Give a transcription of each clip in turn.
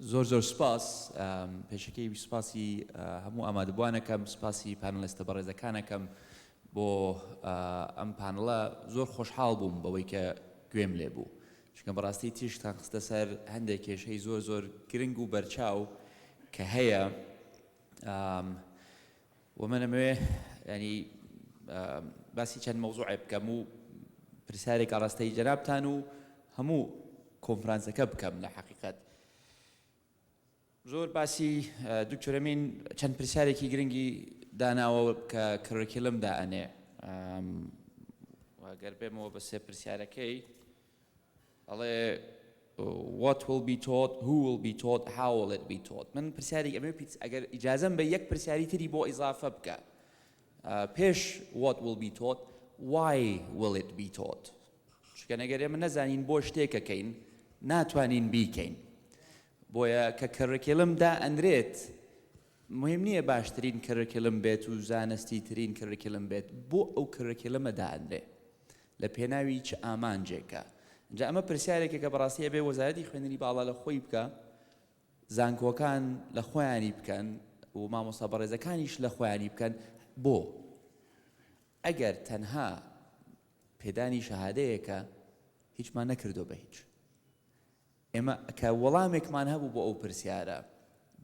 زۆر زۆر سوپاس، پێشەکیی سوپاسی هەموو ئامادەبووان ئەکەم، سوپاسی پانێڵیستە بەڕێزەکان ئەکەم بۆ ئەم پانڵە، زۆر خۆشحاڵ بووم بەوەی کە گوێم لێ بوو، چونکە بەڕاستی تیشکتان خستە سەر هەندێک کێشەی زۆر زۆر گرنگ و بەرچاو کە هەیە، وە من ئەمەوێ یانی باسی چەند مەوزوعێ بکەم و پرسیارێک ئاڕاستەی جەنابتان و هەموو کۆنفرانسەکە بکەم لە حەقیقەت زۆر باسی دکتۆرەمین چەند پرسیارێکی گرنگی داناوە کە کڕێکیلم دائەنێ گەر بێمەوە بە سێ پرسیارەکەی ئەڵێ What will be taught Who will be taught How will it be taught من پرسیاری ئەمێ پیت ئەگەر ئیجازەم بە یەک پرسیاری تری بۆ ئیزافە بکە پێش What will be taught Why will it be taught چونکە نەگەر ئێمە نەزانین بۆ شتێکەکەین ناتوانین بیکەین بۆیە کە کەڕکێلم دا ئەنرێت مهم نییە باشترین کەرکلم بێت و زانستی ترین کەرکلم بێت بۆ ئەو کەرکلمە دانرێ لە پێناوی چ ئامانجێکە؟ ئینجا ئەمە پرسیارێکە کە بەڕاستی ئەبێ وەزارەتی خوێندنی باڵا لە خۆی بکا، زانکۆکان لە خۆیانی بکەن و مامۆستا بەڕێزەکانیش لە خۆیانی بکەن، بۆ؟ ئەگەر تەنها پێدانی شەهادەیەکە هیچمان نەکردووە بە هیچ. ئێمە کە وەڵامێکمان هەبوو بۆ ئەو پرسیارە،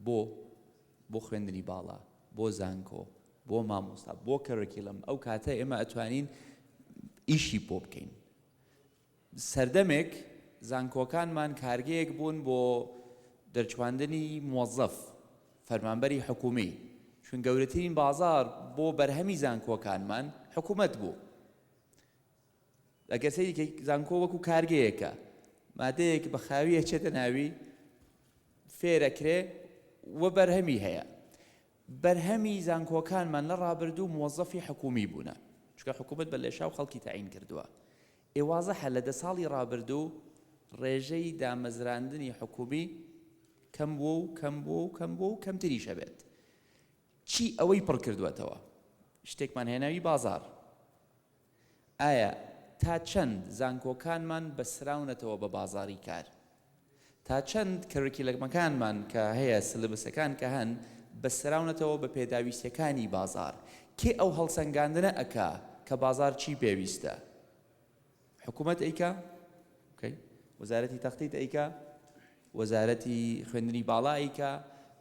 بۆ؟ بۆ خوێندنی باڵا، بۆ زانکۆ، بۆ مامۆستا، بۆ کەرۆکیلەم، ئەو کاتە ئێمە ئەتوانین ئیشی بۆ بکەین. سەردەمێک زانکۆکانمان کارگەیەک بوون بۆ دەرچواندنی موەزەف، فەرمانبەری حکوومی، چون گەورەترین بازاڕ بۆ بەرهەمی زانکۆکانمان حکوومەت بوو. ئەگەر سەیری کەی زانکۆ وەکو کارگەیەکە مادەیەک بە خاوی ئەچێتە ناوی فێرەکرێ و بەرهەمی هەیە بەرهەمی زانکۆکانمان لە ڕابردوو موەزەفی حکومی بوونە چکە حکوومەت بە لێشا و خەڵکی تعین کردووە ئێوازەحە لە دە ساڵی ڕابردوو ڕێژەی دامەزراندنی حکومی کەم بوو و کەم بوو و کەم بوو و کەمتریشە بێت چی ئەوەی پڕ کردوێتەوە شتێکمان هێناوی بازار ئایا تا چەند زانکۆکانمان بەستراونەتەوە بە بازاڕی کار؟ تا چەند کەرریکیلەمەکانمان کە هەیە، سلبسەکان کە هەن، بەستراونەتەوە بە پێداویستیەکانی بازاڕ؟ کێ ئەو هەڵسەنگاندنە ئەکا کە بازاڕ چی پێویستە؟ حکومەت ئەیکا؟ وزارەتی تەخطیط ئەیکا؟ وەزارەتی خوێندنی باڵا ئەیکا؟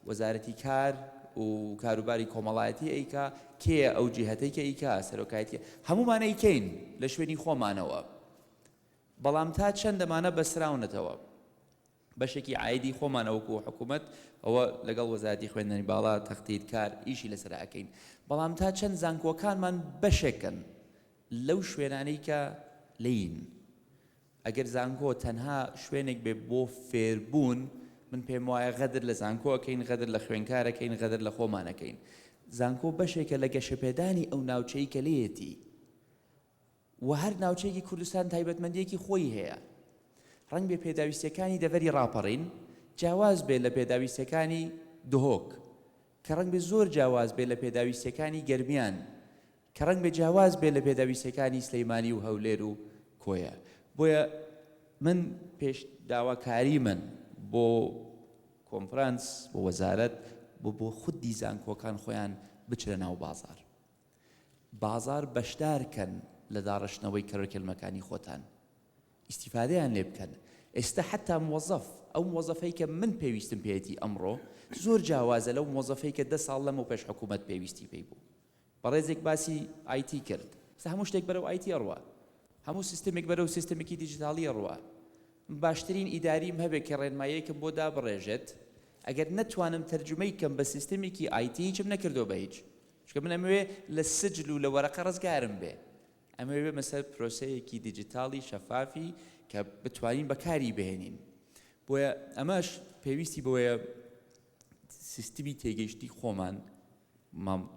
وەزارەتی کار و کاروباری کۆمەڵایەتی ئەیکا؟ کێیە ئەو جیهەتەی کە ئیکا سەرۆکایەتیە؟ هەموومان ئەیکەین لە شوێنی خۆمانەوە بەڵام تا چەند دەمانە بەسراونەتەوە بەشێکی عایدی خۆمانە وەکو حکوومەت ئەوە لەگەڵ وەزارەتی خوێندنی باڵا تەختیت کار ئیشی لەسەر ئەکەین بەڵام تا چەند زانکۆکانمان بەشێکن لەو شوێنانەی کە لین ئەگەر زانکۆ تەنها شوێنێک بێت بۆ فێربوون، من پێم وایە غەدر لە زانکۆ ئەکەین، غەدر لە خوێنکار ئەکەین، غەدر لە خۆمان ئەکەین. زانکۆ بەشێکە لە گەشەپێدانی ئەو ناوچەی کە لێیەتی و هەر ناوچەیەکی کوردستان تایبەتمەندیەکی خۆی هەیە. ڕەنگ بێ پێداویستیەکانی دەڤەری ڕاپەڕین جیاواز بێت لە پێداویستیەکانی دهۆک، کە ڕەنگ بێ زۆر جیاواز بێت لە پێداویستیەکانی گەرمیان، کە ڕەنگبێ جیاواز بێت لە پێداویستیەکانی سلیمانی و هەولێر و کۆیە بۆیە من پێش داواکاری من بۆ کۆنفرانس بۆ وەزارەت بۆ بۆ خودی زانکۆکان خۆیان بچرە ناو بازار بازار بەشدارکەن لە داڕشتنەوەی کەرەکەلمەکانی خۆتان ئیسیفادەیان لێ بکەن ئێستا حتا موەزەف ئەو موەزەفەی کە من پێویستم پێێتی ئەمڕۆ زۆر جیاوازە لەو موەزەفەی کە دە ساڵ لەمە پێش حکوومەت پێویستی پێی بوو بەڕێزێک باسی ئای تی کرد. ئێستا هەموو شتێک بەرەو ئای تی ئەڕوا. هەموو سیستەمێک بەرەو سیستەمێکی دیجیتاڵی ئەڕوا. من باشترین ئیداریم هەبێت کە ڕێنماییەکم بۆ دابڕێژێت، ئەگەر نەتوانم تەرجومەی کەم بە سیستەمێکی ئای تی هیچم نەکردووە بە هیچ. چونکە من ئەمەوێ لە سجل و لە وەرەقە ڕزگارم بێ. ئەمەوێ بێمە سەر پرۆسەیەکی دیجیتاڵی شەفافی کە بتوانین بەکاری بهێنین. بۆیە ئەمەش پێویستی بەوەیە. سیستمی تێگەیشتنی خۆمان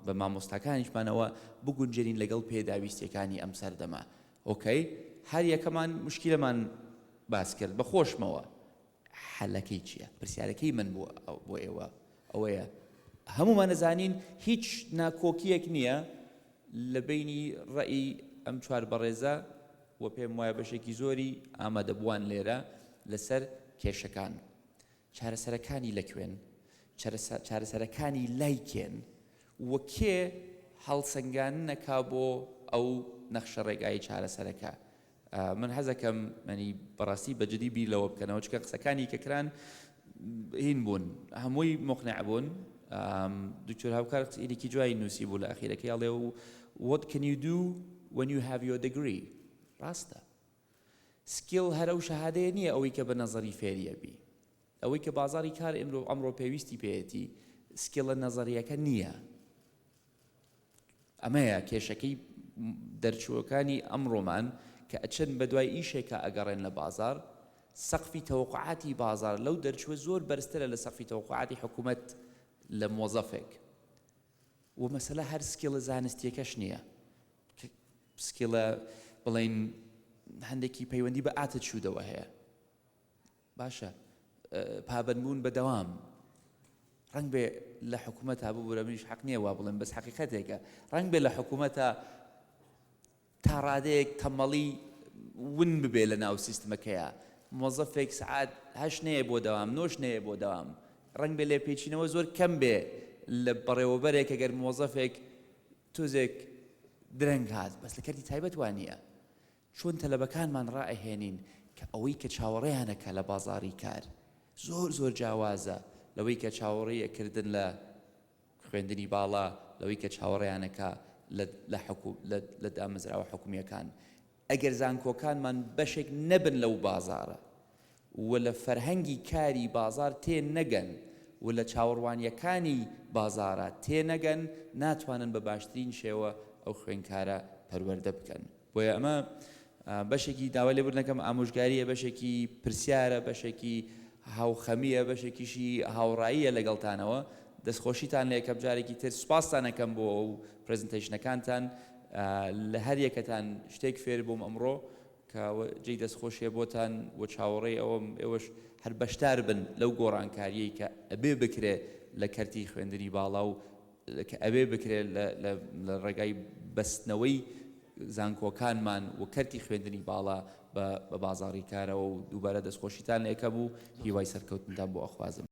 بە مامۆستاکانیشمانەوە بگونجێنین لەگەڵ پێداویستیەکانی ئەم سەردەمە ئۆکەی هەر یەکەمان مشکلەمان باس کرد بە خۆشمەوە حەلەکەی چییە پرسیارەکەی من بووە بۆ ئێوە ئەوەیە هەمومان نەزانین هیچ ناکۆکیەک نییە لە بینی ڕێی ئەم چوار بەڕێزە و پێم وایە بەشێکی زۆری ئامادەبووان لێرە لەسەر کێشەکان چارەسەرەکانی لەکوێن؟ چارەسەرەکانی لای کێن و کێ هەڵسەنگاندن ئەکا بۆ ئەو نەخشە ڕێگای چارەسەرەکە؟ من حەزەکەم مەنی بەڕاستی بە جدی بیر لەوە بکەنەوە چکە قسەکانی کە کران هین بوون هەمووی مقنع بوون دکتۆر هاوکار قسەیەکی جوای نووسی بوو لە ئەخیرەکەی ئەڵێ و what can you do when you have your degree ڕاستە سکیڵ هەر ئەو شەهادەیە نیە ئەوەی کە بە نەزەری فێری ئەبی ئەوەی کە بازاری کار ئیمرۆ ئەمڕۆ پێویستی پێیەتی سکیڵە نەزەریەکە نیە ئەمەیە کێشەکەی دەرچووەکانی ئەمڕۆمان کە ئەچن بە دوای ئیشێکە ئەگەڕێن لە بازار سەقفی تەوقعاتی بازار لەو دەرچووە زۆر بەرزترە لە سەقفی تەوقعاتی حکوومەت لە مۆزەفێک و مەسەلە هەر سکیڵە زانستیەکەش نییە کە پسکیڵە بڵێین هەندێکی پەیوەندی بە ئاتچوودەوە هەیە باشە پابەندبوون بە دەوام ڕنگ بێ لە حکوومەت تا ببوورە منیش حەق نییە وا بڵێن بەس حقیقەتێکە ڕنگ بێ لە حکوومەتە تا ڕادەیەک تەمەڵی ون ببێ لە ناو سیستمەکەیە مۆزەفێک سعات هەش نەیە بۆ دەوام نۆش نەیە بۆ دەوام ڕنگ بێ لێ پێچینەوە زۆر کەم بێ لە بەڕێوەبەرێک ئەگەر مۆزەفێک تۆزێک درەنگ هات بەس لە کەرتی تایبەت وا نییە چۆن تەلەبەکانمان ڕائەهێنین کە ئەوەی کە چاوەڕێیان ئەکا لە بازاڕی کار زۆر زۆر جیاوازە لەوەی کە چاوەڕێی ئەکردن لە خوێندنی باڵا لەوەی کە چاوەڕێیان ئەکا لە لە حکوم لە لە دامەزراوە حکومییەکان ئەگەر زانکۆکانمان بەشێک نەبن لەو بازاڕە و لە فەرهەنگی کاری بازاڕ تێ نەگەن و لە چاوەڕوانییەکانی بازاڕە تێ نەگەن ناتوانن بە باشترین شێوە ئەو خوێندکارە پەروەردە بکەن بۆیە ئەمە بەشێکی داوای لێبوردنەکەم ئامۆژگارییە بەشێکی پرسیارە بەشێکی هاوخەمیە بەشێکیشی هاوڕاییە لەگەڵتانەوە دەستخۆشیتان لە یەکەم جارێکی تر سوپاستانەکەم بۆ ئەو پرزنتەیشنەکانتان لە هەر یەکەتان شتێک فێر بووم ئەمڕۆ کە جێی دەستخۆشیە بۆتان و چاوەڕێی ئەوەم ئێوەش هەر بەشدار بن لەو گۆڕانکاریەی کە ئەبێ بکرێ لە کەرتی خوێندنی باڵا و کە ئەبێ بکرێ لە ڕێگای بەستنەوەی زانکۆکانمان و کەرتی خوێندنی باڵا بە بازاڕی کارەوە و دووبارە دەستخۆشیتان لە ئێکەم و هیوای سەرکەوتنتان بۆ ئەخوازم.